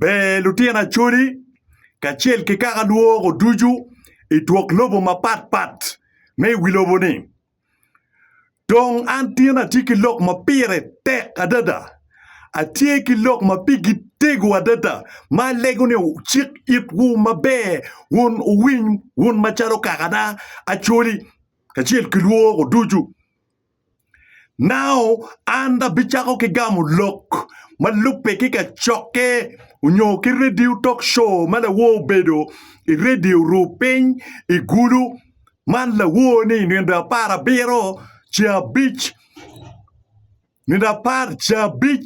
Ber lutino Acholi kacel ki kaka lworo ducu i twok lobo mapatpat me i wi lobo-ni. Dong an tin atye ki lok ma pire tek adada. Atye ki lok ma pigi tego adada ma alego ni wucik itwu maber wun wuwiny wun macalo kakana Acholi kacel ki lworo ducu Nao an abicako ki gamo lok ma lubbe ki kacokke onyo ki radio talk show ma lawor obedo i radio ru piny i gulu man lawor ni nino apar abiro ce abic nino apar ce abic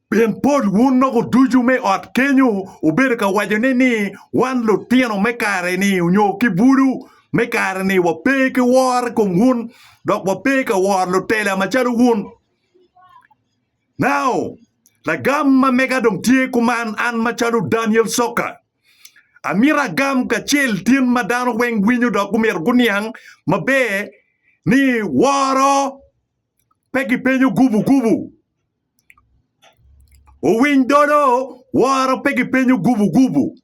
Pien pol wun noko ducu me ot kenyo wubedo ka wacone ni, 'Wan lutino me kare-ni, nyo ki bulu me kare-ni, wape ki woro i kom wun, dok wape ka woro lutela macalo wun. Nao, lagam ma mega dong tye kuman, an macalo Daniel Soka, amito agam kacel tin ma dano weng winyo dok gumito guniang maber ni woro pe gipenyo gubu gubu. Owiny dodo, woro pe gipenyo gubugubu.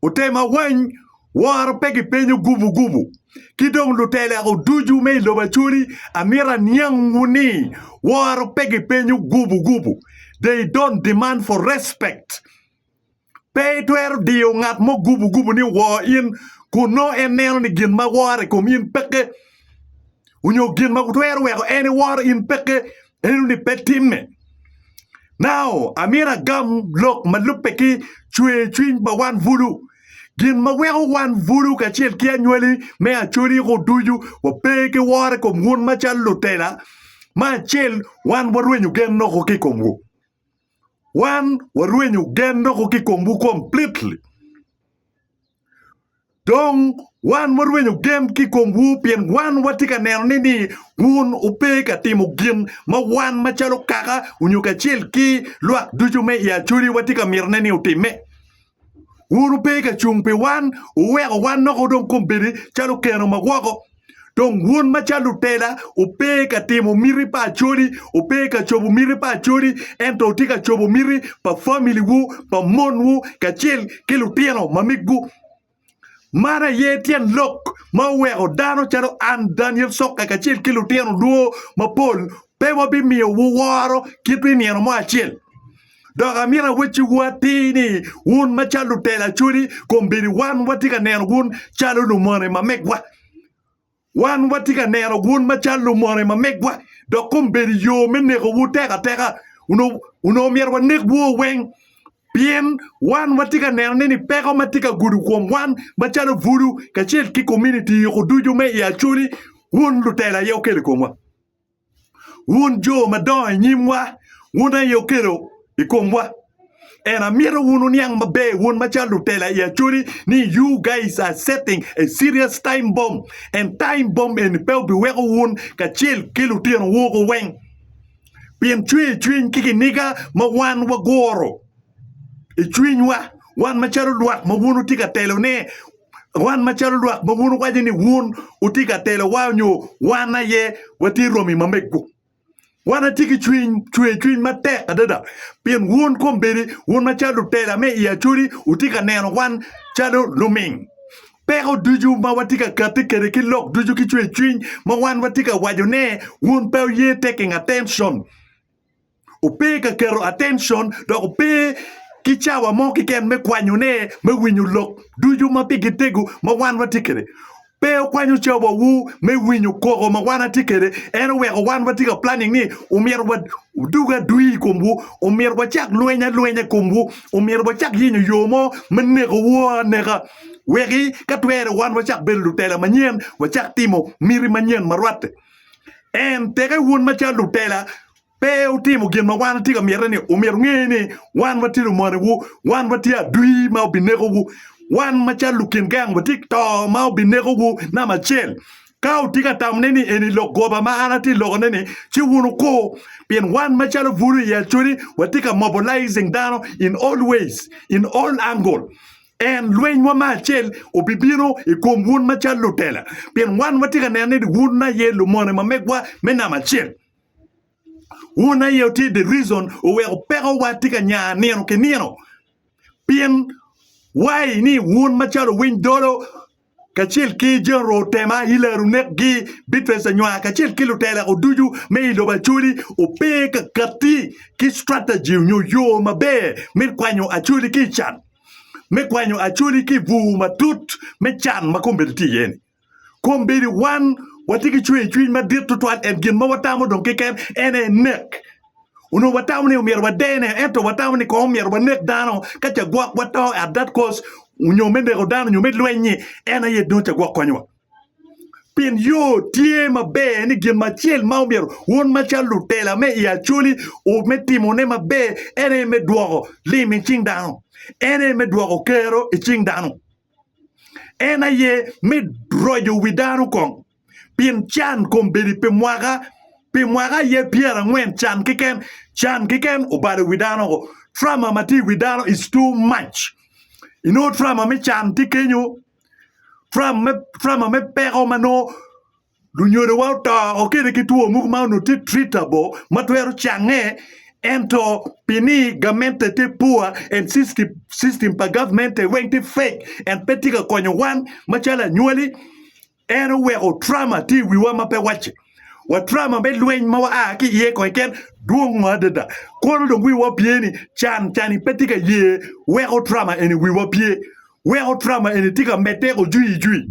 Otem awany, woro pe gipenyo gubugubu. Ki dong lutelego ducu me i lobo Acholi, amito aniangwu ni woro pe gipenyo gubugubu. They don't demand for respect. Pe itwero diyo ngat mo gubugubu ni owor in kun nongo en neno ni gin ma wore i kom in peke onyo gin ma twero weko en ewor in peke eno ni pe timme. Nao amyero agam lok ma lubbe ki cwer cwiny pa wan bulu. Gin ma weko wan bulu kacel ki anywali me Acoriko ducu wape ki woro i kom wun macalo lutela, me acel wan warwenyo gen noko ki i komwu. Wan warwenyo gen doko ki komwu completely. Dong wan warwenyo gen ki komwu pien wan watye ka neno ni ni wun wupe ka timo gin ma wan macalo kaka onyo kacel ki lwak ducu me i Acoli watye ka mitone ni wutimme. Wun wupe ka cung pi wan, wuweko wan nok odong kom bedo calo okeno ma woko. Dong wun macalo lutela, wupe ka timo miti pa acodi, wupe ka cobo miti pa acodi, ento wutye ka cobo miti pa familiwu, pa monwu, kacel ki lutino mamegwu. Man aye tyen lok ma oweko dano calo an Daniel Cokke kacel ki lutino dwo mapol pe wabimiyowu woro kit pi nino mo acel. Dok amito awecciwu atir ni wun macalo lutelo acholi kombeddi wan watye ka neno wun calo lumone ma megwa. Wan watye ka neno wun macalo lumone ma megwa, dok kombeddi yo me nekowu tek ateka, onongo myero wanekwu weng, pien wan watye ka neno ni peko ma tye ka gudo kom wan macalo bulu kacel ki kominiti yoko ducu me i Acholi wun lutela aye wukelo i komwa. Wun jo madongo i nyimwa, wun aye okelo i komwa. And amito wun wuniang maber wun macalo lutela i Acholi ni you guys are setting a serious time bomb and time bomb eni pe obiweko wun kacel ki lutino wu ko weng pien cwer cwiny ki kiniga ma wan waguro i cwinywa wan macalo lwak ma wun wutye ka telone wan macalo lwak ma wun wuwaco ni wun wutye ka telowa nyo wan aye watye romi ma mego. Wan atye ki cwiny cwercwiny matek adada pien wun kombeddi wun macalo lutela me i Acoli wutye ka neno wan calo luming. Peko ducu ma watye ka katti kwede ki lok ducu ki cwercwiny ma wan watye ka wacone wun pe wuye tekeng attention. Ope ka keto attention dok ope ki cawa mo keken me kwanyone, me winyo lok ducu ma pigi tego ma wan watye kwede. Pe okwanyo cawawu me winyo koko ma wan watye kwede. En oweko wan watye ka planning ni omyero wadug adwi i komwu, omyero wacak lweny alwenya i komwu, omyero wacak yenyo yo mo me nekowu aneka weki ka twere wan wacak bedo lutela manyen, wacak timo miti manyen ma rwatte. En teke wun macalo lutela pe wutimo gin ma wan watye ka mitte-ni, omyero wunge ni wan watye lumonewu, wan watye adwi ma obinekowu. Wan macalo lukin gang watye ka to ma obinekowu namba acel. Ka wutye ka tamone ni eni lok goba ma an atye ka lokone-ni, ci wun wukur, pien wan macalo bulu i acodi watye ka mobilizing dano in all ways, in all angle. En, lwenywa me acel, obibino i kom wun macalo lutela, pien wan watye ka neno ni wun aye lumone ma megwa me namba acel. Wun aye wutye the reason oweko peko wa tye ka nya nino ki nino pien why ni wun macalo owiny dolo kacel ki general otema ilaro nek gi bitress anywar kacel ki lutela oducu me ilobo acholi ope kakati ki strategy onyo yo maber me kwanyo acholi ki ican me kwanyo acholi ki bur matut me can makombedo tye iye ni. Kombeddi wan watye ki cwercwiny madit tutwal ento gin ma watamo dong keken en aye nek. Onongo watamo ni omyero wadene ento watamo ni kong omyero wanek dano ka ca gwokwa to at that cost nyo me neko dano nyo me lweny-nyi en aye dong ca gwok konyowa. Pien yo tye maber ni gin acel ma omyero wun macalo lutela me i Acholi o- me timone maber en aye me dwoko lim i cing dano, en aye me dwoko kero i cing dano. En aye me roco wi dano kong pien can kombeddi pi mwaka pi mwaka aye pyerangwen can keken can keken obalo wi dano o trama ma tye i wi dano is too mac inongo trama me can tye kenyo trama me peko ma nongo Lunyodowa oto okene ki two mogo ma onongo tye treatable ma twero cange, ento pi ni gamente tye poor and system pa gamente weng tye fake and pe tye ka konyo wan macalo anywali, en oweko trauma tye i wiwa ma pe wacce. Wa trauma me lweny ma waa ki iye kong keken dwong adada. Kono dong wiwa opye ni can cani pe tye ka ye weko trauma eni i wiwa pye. Weko trauma eni tye ka medde ojwiyijwi.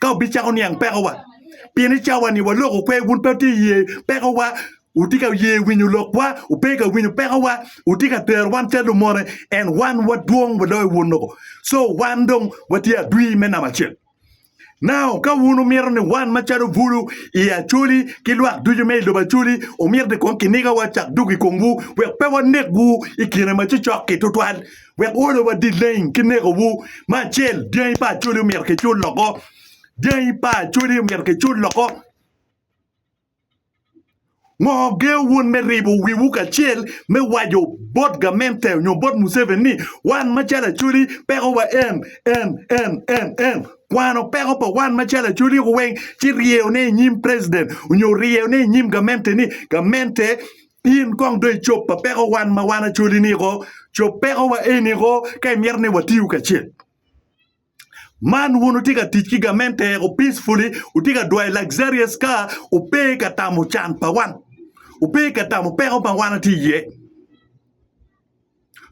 ka obicako niang pekowa. Pien i cawa-ni waloko kwer, wun pe wutye ka ye pekowa, wutye ka ye winyo lokwa, wupe ka winyo pekowa, wutye ka tero wan calo lumone, ento wan wadwong waloyo wun loko, co wan dong watye adwi me namba acel. Nao ka wun wumito ni wan macalo bulu i Acoli ki lwak ducu me i lobo Acoli, wumito ni kong kinigawa cak duk i komwu, wek pe wanegwu i kine ma cocok-ki tutwal, wek olo wa dileng ki neko wu ma acel dyangi pa acoli omyero ki cul loko dyangi pa acoli omyero ki cul loko ngo geo wun me ribo wi wu kacel me wajo bot gamente onyo bot museven ni wan ma calo acoli peko wa en en en en en kwano peko pa wan ma calo acoli weng ci ryeyo ne inyim president onyo ryeyo ne inyim gamente ni gamente In kong dong icob pa peko wan ma wan acoli ni ko, cob peko wa eni ko ka imito ni watiyu kacel. Man wun wutye ka tic ki gamente eko peacefully, wutye ka dwayo luxurious car, wupe ka tamo can pa wan, wupe ka tamo peko ma wan atye iye.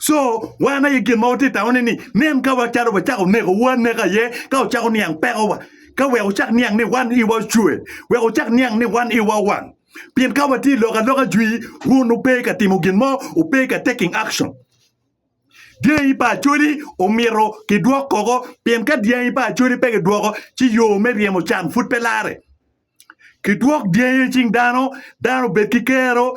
Co, wan aye gin ma watye ka tangone ni nen ka wacalo wacako neko wu aneka aye ka wucako niang pekowa, ka wek wucak niang ni wan iwa ocwe, wek wucak niang ni wan iwa owang. Pien ka watye lok aloka jwi, wun wupe ka timo gin mo, wupe ka taking action. Dyangi pa Acholi omito kidwok koko, pien ka dyangi pa Acholi pe kidwoko ci yo me ryemo can pud pe lare. Kidwok dyangi i cing dano, dano obed ki kero.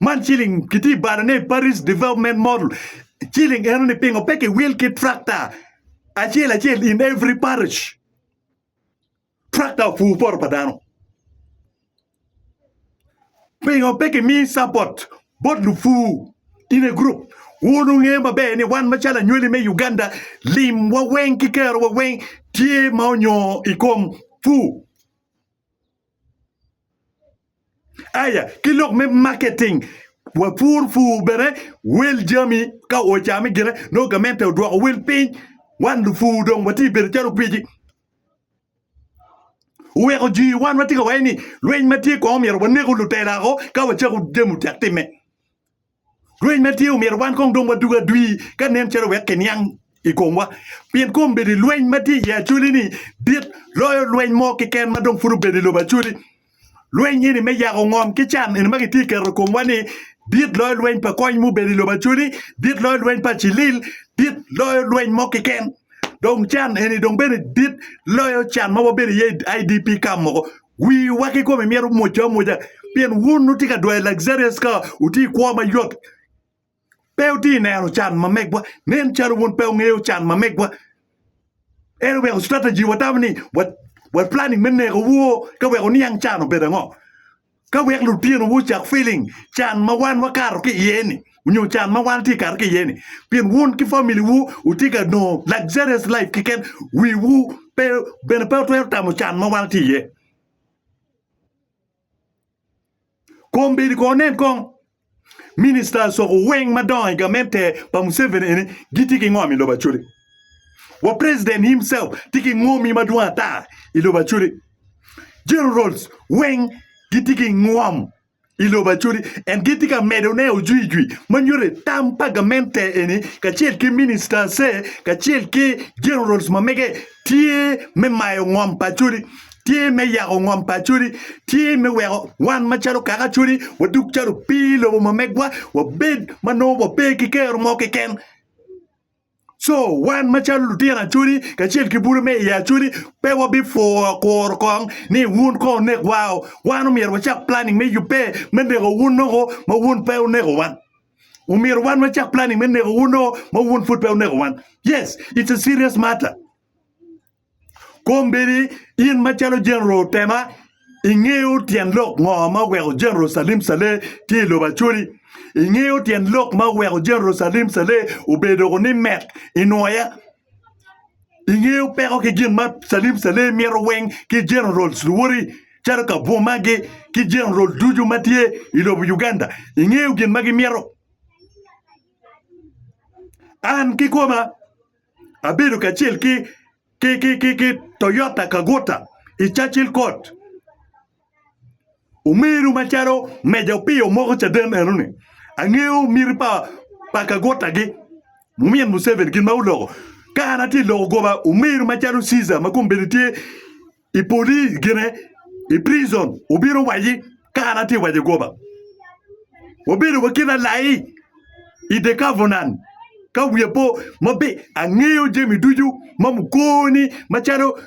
Man ciling kitye balo ne Paris development model ciling eno ni pingo pe ki will ki tractor acel acel in every parish tractor opur poto pa dano pingo pe ki mi support bot lupur in a group wun wunge maber ni wan macalo anywali me Uganda lim wa weng ki kero wa weng tye ma onyo ikom pur. Aya ki lok me marketing, wapur pur bene wel jami ka ocame gire nongo gamente odwoko wel piny wan lupur dong watye bedo calo opiji oweko jwi wan watye ka waco ni lweny matye kong omyero waneko lutela wako ka wacako jami otyek time. Rweny ma tye omyero wan kong dong wadug adwi ka nen calo wek kiniang i komwa, pien kombeddi lweny ma tye i Acoli-ni dit loyo lweny mo keken ma dong pud obedo i lobo Acoli. Lweny eni me yako ngom ki can eni ma kitye ka keto i komwa-ni dit loyo lweny pa kony mubedo i lobo Acoli, dit loyo lweny pa cilil, dit loyo lweny mo keken. dong can eni dong bene dit loyo can ma wabedo iye i IDP camp moko. Wiwa ki kome myero omocce amoca pien wun wutye ka dwayo luxurious ka wutye i kwo mayot. Pe wutye neno can ma megwa. Nen calo wun pe wungeyo can ma megwa. En omyero strategy watamo ni wa wa planning me neko woo ka weko niang can obedo ango. Ka wek lutinowu ocak feeling can ma wan wakato ki iye-ni nyo can ma wan tye kato ki iye-ni pien wun ki family-wu wutye ka nongo luxurious life keken, wiwu pe bene pe wutwero tamo can ma wan watye iye. Kombeddi kono nen kong. Minista asoko weng madongo i gamente pa Museveni eni gitye ki ngom i lobo Acholi. Wa president himself tye ki ngomi madwong ata i lobo Acholi. Generals weng gitye ki ngom i lobo Acholi and gitye ka medone ojwijwi ma nyuto tam pa gamente eni kacel ki ministers kacel ki generals ma mege tye me mayo ngom pa Acholi, tye me yako ngom pa Acholi, tye me weko wan macalo kaka Acholi wadug calo opii i lobo ma megwa, wabed ma nongo wape ki kero mo keken. Co wan macalo lutino Acholi kacel ki bute me i Acholi pe wabipwoo kuro kong ni wun kong wunek wao, wan omyero wacak planning me yubbe me neko wun nongo ma wun pe wuneko wan. omyero wan wacak planning me neko wun o ma wun pud pe wuneko wan. Yes, it's a serious matter. Kombedi in macalo General Tema ingeyo tyen lok ngo ma oweko General Salim Saleh tye i lobo Acholi? Ingeyo tyen lok ma oweko General Salim Saleh obedo doko ni met i Nwoya? Ingeyo peko ki gin ma Salim Saleh mito weng ki Generals luwoti calo ka Bwomagi ki General ducu ma tye i lobo Uganda. Ingeyo gin ma gimito. An kikoma abedo kacel ki Toyota Kagota i Churchill Court Omeru macalo meja opiyo moko caden enoni angeyo miti pa pa kagutta gi mumin Museveni gin ma oloko ka an atye iloko goba omeru macalo Ceasar ma kombeddi tye i poli gine i prison obino owaci ka an atye waco goba wabedo wa kit alai i the covenant ka wiya po maber angeyo jami ducu ma mukoni macalo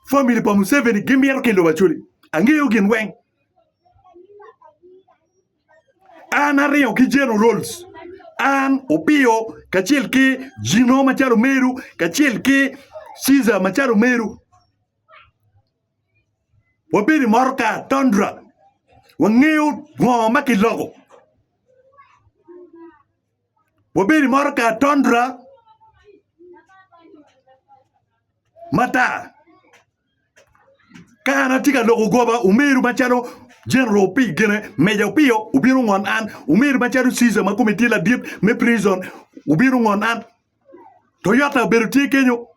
Family pa Museveni gimito ki lobo Acholi. Angeyo gin weng. An aringo ki generals, an Opiyo kacel ki Jino macalo Meru kacel ki Caesar macalo Meru. Wabedo i motoka Tundra. Wangeyo ngo ma kiloko. Wabedo i motoka Tondra matar. Ka an atye ka loko goba, omeru macalo General Opii gine, Meja Opiyo obino ongon an, omeru macalo Caesar ma kome tye ladit me prison obino ongon an, Toyota obedo tye kenyo,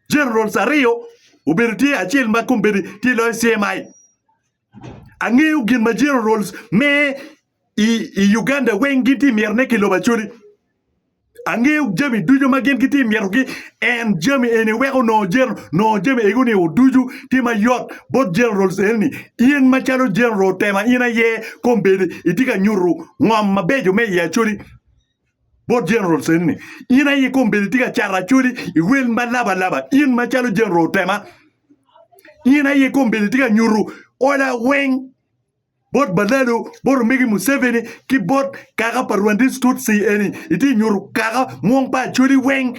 Generals aryo obedo tye acel ma kombeddi tye loyo CMI. Angeyo gin ma generals me i Uganda weng gin ti myero ne ki lobo Acholi. Angeyo jami ducu ma gin giti myero gi en jami eni weko nongo general nongo jami ego ni ducu ti ma yot bot generals eni ni in ma calo general tema in aye kombeddi iti ka nyutu ngom mabeco me i Acholi. bot generals eni ni in aye kombeddi tye ka cato acholi i wel ma laba laba in macalo general otema in aye kombeddi tye ka nyuto ola weng bot balalo bot omegi museveni ki bot kaka pa rwandis tutsi eni itye nyuto kaka mwong pa acholi weng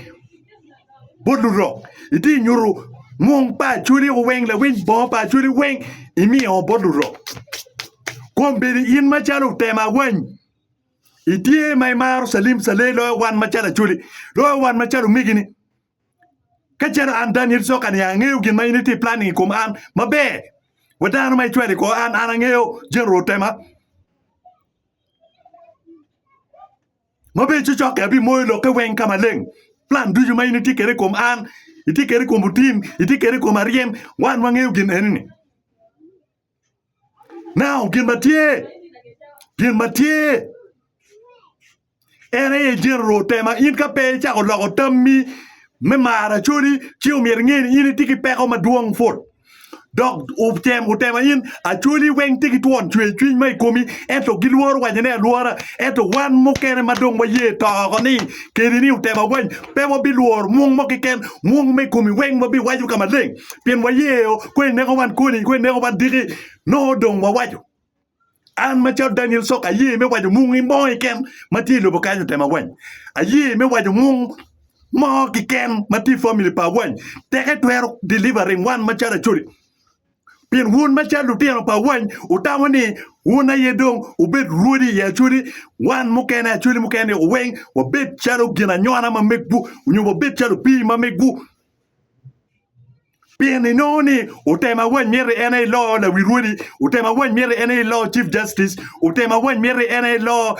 bot lurok itye nyuto mwong pa acholi weng lawiny bongo pa acholi weng imiyo bot lurok kombeddi in macalo otema wany Itye ma imaro calim calei loyo wan macalo acoli, loyo wan macalo omegini. Ka calo an Daniel Coka ni angeyo gin ma in itye planning i kom an maber. Wa dano ma icwalo i kor an, an angeyo General Otema. Ma bene cocokke abimoyo lokke weng ka maleng. Plan ducu ma in itye kwede i kom an, itye kwede i kom Otim, itye kwede i kom Aryem, wan wangeyo gin eni-ni. Now, gin ma tye, gin ma tye en aye General Tema. In ka pe icako loko tammi me maro Acholi, ci omyero inge ni in itye ki peko madwong put. Dok otem otema in, Acholi weng tye ki twon cwercwiny ma i komi, ento gilworo wacone alwora. Ento wan mukene ma dong waye to oko ni keni ni otema weng, Pe wabilworo mwong mo keken, mwong me kom i weng wabiwaco ka maleng, pien wayeyo kong ineko wan koni, kong ineko wan diki, nongo dong wawaco. An macalo Daniel Sok aye me waco mwong mo keken ma tye i lobo kany otem awany. Aye me waco mwong mo keken ma tye i family pa awany. Teke twero delivering wan macalo Acholi. Pien wun macalo lutino pa wany wutamo ni wun aye dong wubed rwodi i Acholi, wan mukene Acholi mukene weng wabed calo ginanywona ma megwu, nyo wabed calo opii ma megwu. Pien inongo ni utema wany miti en aye ilo lawi rwodi, utema wany miti en aye ilo Chief Justice, utema wany miti en aye ilo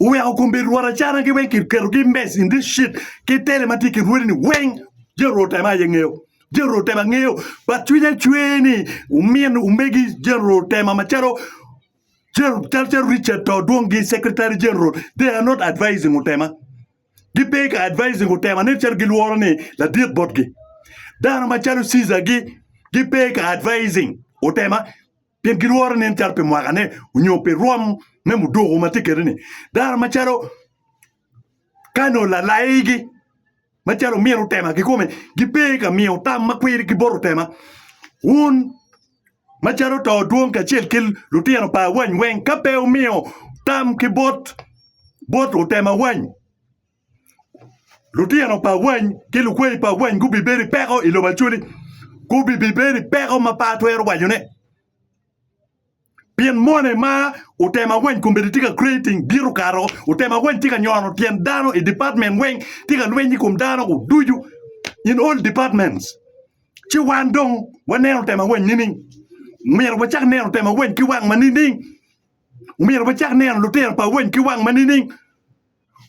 Oweko kombe rwot acanagi weng kiketogi i mec in this shit ki tele ma tye ki rwodi ni weng jami rwot otema aye ngeyo jami rwot otema ngeyo but cwinya cwer ni omin omegi jami rwot otema macalo calo Richard to dwong gi secretary general they are not advising otema gipe ka advising otema nen calo gilworo ni ladit botgi dano macalo Ceasar gi gipe ka advising otema. pien gilworo nen calo pi mwakane onyo pi rwom me muduku ma tye kede-ni, dano macalo Kano lalaigi macalo omin otema kikome gipe ka miyo tam ma kwiri ki bot otema. Wun macalo to dwong kacel ki lutino pa awany weng ka pe wumiyo tam ki bot bot otema awany, Lutino pa wany ki lukweyi pa wany gubibedo ki peko i lobo Acholi. Gubibedo ki peko ma pe atwero wacone. Pien moni ma otemo awany kombeddi tye ka creating bito kato, otemo awany tye ka nyono tyen dano i department weng, tye ka lweny i kom dano ducu in all departments. Ci wan dong waneno temo awany nining? Omyero wacak neno temo awany ki wang ma nining? Omyero wacak neno lutino pa wany ki wang ma nining?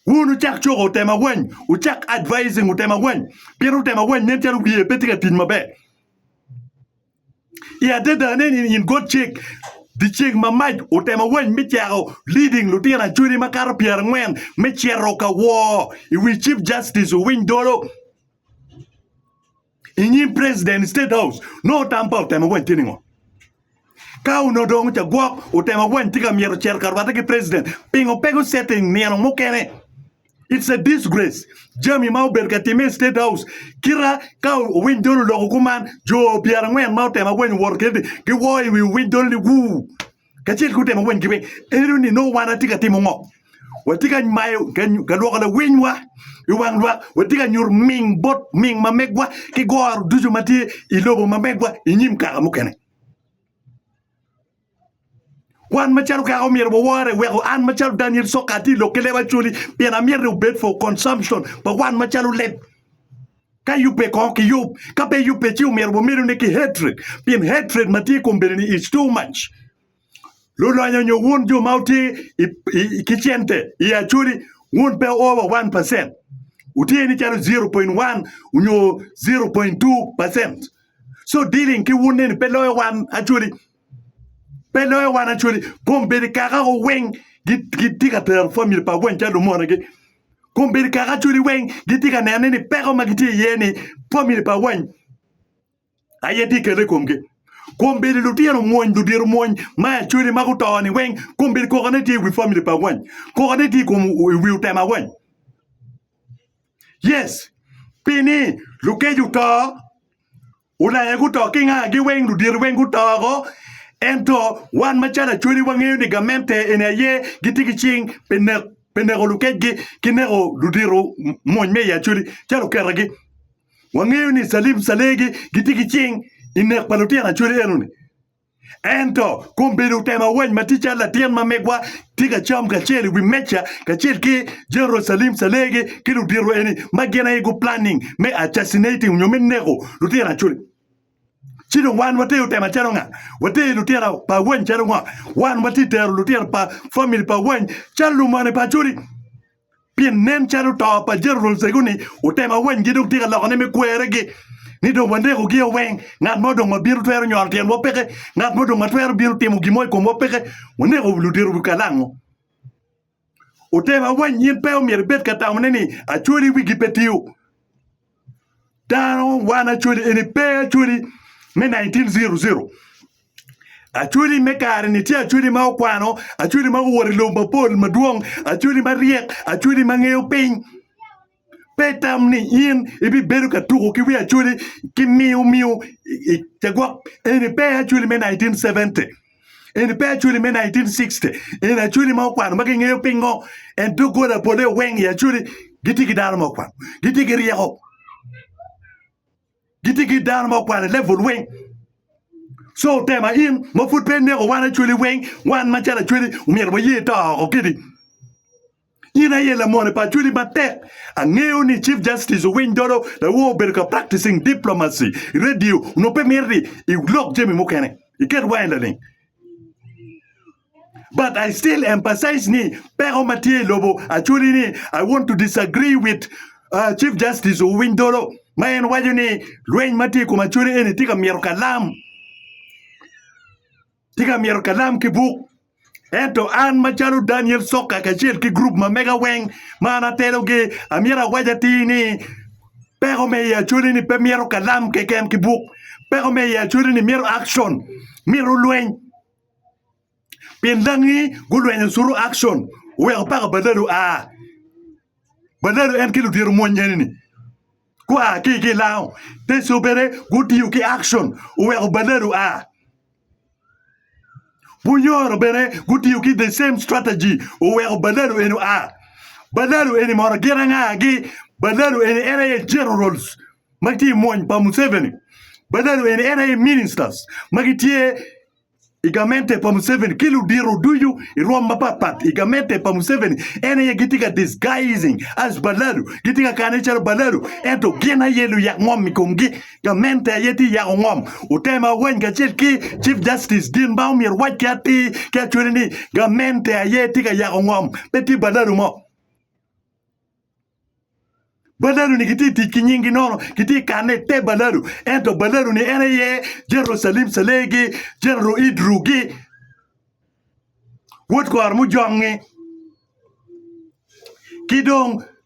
Wun wucak cuko otema weng, wucak advising otema weng, pien otema weng nen calo wiye pe tye ka tic maber. I adada ne in in god cik dyeceng ma mac otema weng me cako leading lutino acholi makato pyerangwen me cito ka woo i wi chief justice owiny dolo. I nyim president state house nongo otam pa otemo weny tye ningo? Ka onongo dong ca gwok otemo weny tye ka myero cito ka rwate ki president pingo pe go setting nino mukene it's a disgrace jami ma obedo ka time i state house kita ka owiny dol oloko kuman jo pyerangwen ma otemo weny owoto kiti giwoo i wi owiny dol ni wuu kacel ki otemo weny kibin eno ni no wan atye ka timo ngo watye ka mayo ka lwoko lawinywa i wang lwak watye ka nyuto ming bot ming ma megwa ki goro ducu ma tye i lobo ma megwa i nyim kaka mukene wan macalo kaka omyero wawore weko an macalo Daniel Soka atye lok ki leb acoli pien amyero ni obed for consumption pa wan macalo leb Ka yubbe kong ki yub, ka pe yubbe ci omyero wamedo ni ki hatred, pien hatred ma tye i kom bene ni is too much. Lulonya nyo wun jo ma wutye i, i, ki cente i Acholi, wun pe over 1 percent. Wutye ni calo 0.1 onyo 0.2 percent. So dealing ki wun eni pe loyo wan Acholi. pe loyo wan acwali kombedi kaka ko weng gitye ka tero famili pa weng calo lumonegi kombedi kaka acwali weng gitye ka nene ni peko ma gitye iye ni famili pa weng aye tye kele ikomgi kombedi lutino omwony ludito omwony ma acwali ma guto ni weng kombedi koko ne tye iwi famili pa weng koko ne tye ikom iwi otema weng yes pini lukeco oto Ulaya guto ki ngagi weng, ludito weng guto woko. Ento wan macalo Acholi wangeyo ni gamente eni aye gitye ki cing pi nek pi neko lukecgi ki neko ludito mony me i Acholi calo oketagi. Wangeyo ni Salim Salegi gitye ki cing i nek pa lutino Acholi enoni. Ento, kombeddi otemo awany ma tye calo latin ma megwa tye ka cam kacel i wi meja kacel ki Jerucalim Calegi ki ludito eni ma gin aye guplanning me assassinating nyo me neko lutino acoli. Ci dong wan watye otemo acalo nga? Watye lutino pa awany calo nga? Wan watye tero lutino pa famili pa awany calo lumane pa acoli? Pien nen calo to pa Jerusalem cego-ni otemo awanygi dok tye ka lokone me kweregi, ni dong waneko gia weng, ngat mo dong ma bino twero nyoro tyenwa peke, ngat mo dong ma twero bino timo gin mo i komwa peke, waneko ludito wi kalango. Otemo awanyi in pe omyero ibed ka tamone ni, Acwali wigi pe tiyo. Dano wan Acholi eni pe Acholi me 1900. Acholi me kare-ni tye Acholi ma okwano, Acholi ma owoto i lobo mapol madwong, Acholi maryek, Acholi ma ngeyo piny. Pe itam ni in ibibedo ka tuko ki wi Acholi ki miyo miyo i cagwok. Eni pe Acholi me 1970. Eni pe Acholi me 1960. Eni Acholi ma okwano ma kingeyo pingo. En doggola pole oweng i Acholi. Gitye ki dano ma okwano. Gitye ki ryeko. Gitye ki dano ma okwano i level weng. So otema in ma pud pe ineko wan Acholi weng, wan macalo Acholi omyero waye to oko kidi. In aye lamone pa achwili matek. Angeyo ni Chief Justice owiny dolo lawo obedo ka practicing diplomacy i radio nyo pe mito ni ilok jami mukene iket wangi laling. But I still emphasize ni peko ma tye i lobo achwili ni I want to disagree with uh, Chief Justice owiny dolo ma en waco ni lweny ma tye i kom achwili eni tye ka mito kalam. Tika myero Kalam ki Buk? Ento an macalo Daniel Sokka kacel ki gurup ma mega weng ma an atelogi, amyero awac atir ni, Peko me i Acholi-ni pe myero kalam keken ki buk. Peko me i Acholi-ni myero action, myero lweny. Pien dangi gulwenyo Suru Action oweko paka Badalu a. Badalu en ki ludito mwony eni-ni gua ki i Kilango, Teso bene gutiyo ki Action oweko Badalu a. Bunyoro bene gutiyo ki the same strategy oweko Balalo eni oa. Balalo eni mono gin anga agi? Balalo eni en aye generals ma gitye i mwony pa Museveni. Balalo eni en aye ministers ma gitye i gamente pa Museveni ki ludito ducu i rwom mapat pat i gamente pa Museveni en aye gitye ka disguising as Balalo gitye ka kane calo Balalo ento gin aye luyak ngom i komgi. Gamente aye tye yako ngom. Otema Oweny kacel ki Chief Justice gin ma omyero owac ki atir ki acwele ni gamente aye tye ka yako ngom, pe tye badalu mo. Badalu-ni gitye tic ki nyingi nono, gitye kanne i te badalu. Ento badalu-ni en aye General Salim Salegi, General Id Rugi, Wod Kor Mujongngi ki dong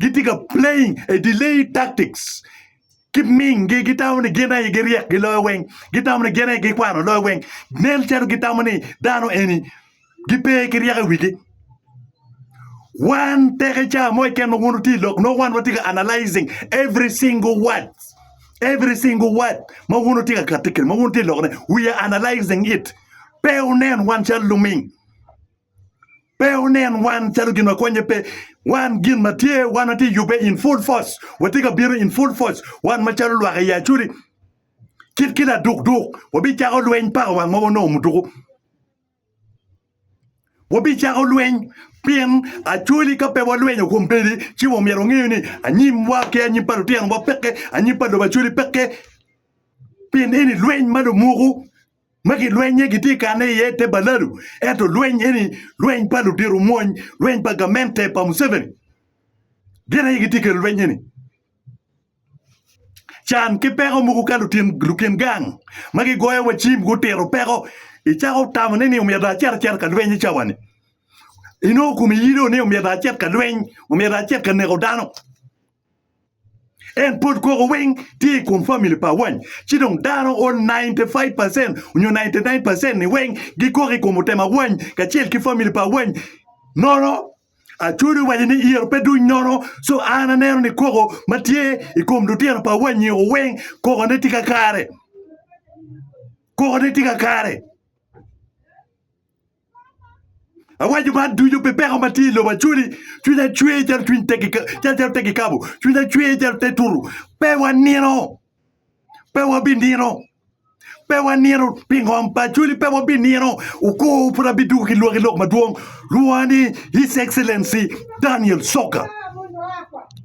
gitye ka playing a delayed tactics ki mingi gitamo ni gin aye giryek giloyo weng gitamo ni gin aye gikwano loyo weng nen calo gitamo ni dano eni gipe ki ryeko i wigi wan teke ca mo keken ma wun wutye i lok nongo wan watye ka analyzing every single word every single word ma wun wutye ka kati kwede ma wun wutye ka lokone we are analyzing it pe wunen wan calo luming pe wunen wan calo gin ma konye pe. Wan gin ma tye wan watye yubbe in full force, watye ka bino in full force, wan macalo lwak i Yacudi kit ki laduk duk wabicako lweny paka wang ma wanongo muduku. Wabicako lweny pien acwali ka pe walwenyo kom bedi ci wa myero wangeyo ni anyim wa ki anyim pa lutino wa peke, anyim pa lobo acwali peke pien eni lweny ma lumuku. ma gilwennye gitye i kare-ne iye i te balalu, ento lweny eni lweny pa ludiro mwony, lweny pa gamente pa Museveni gin aye gitye i kelo lweny eni. Can ki peko mogo ka lutin lukin gang ma gigoyo wa cim gutito peko icako tamo ni omyero dong acit acita ka lweny i cawani inongo komi yido ni omyero dong acit ka lweny omyero dong acit ka neko dano. En pud koko weng tye i kom famili pa wany, ci dong dano o 95 pacen nyo 99 pacen ni weng gikoko i kom otema wany kacel ki famili pa wany. Nono, Acodi owaco ni iro pe duny nono, so an aneno ni koko ma tye i kom lutino pa wanyi o weng kokone tye kakare. Kokone tye kakare. Awaco man ducu pi peko ma tye i lobo acwali, cwiny acwer calo cwiny calo te kikapo, cwiny acwer calo te tutu. Pe wanino, pe wabinino, pe wanino pi ngom pa acwali pe wabinino. Okur pud abidwogo ki lwaki lok madwong, lwonga ni His Excellency Daniel Soka.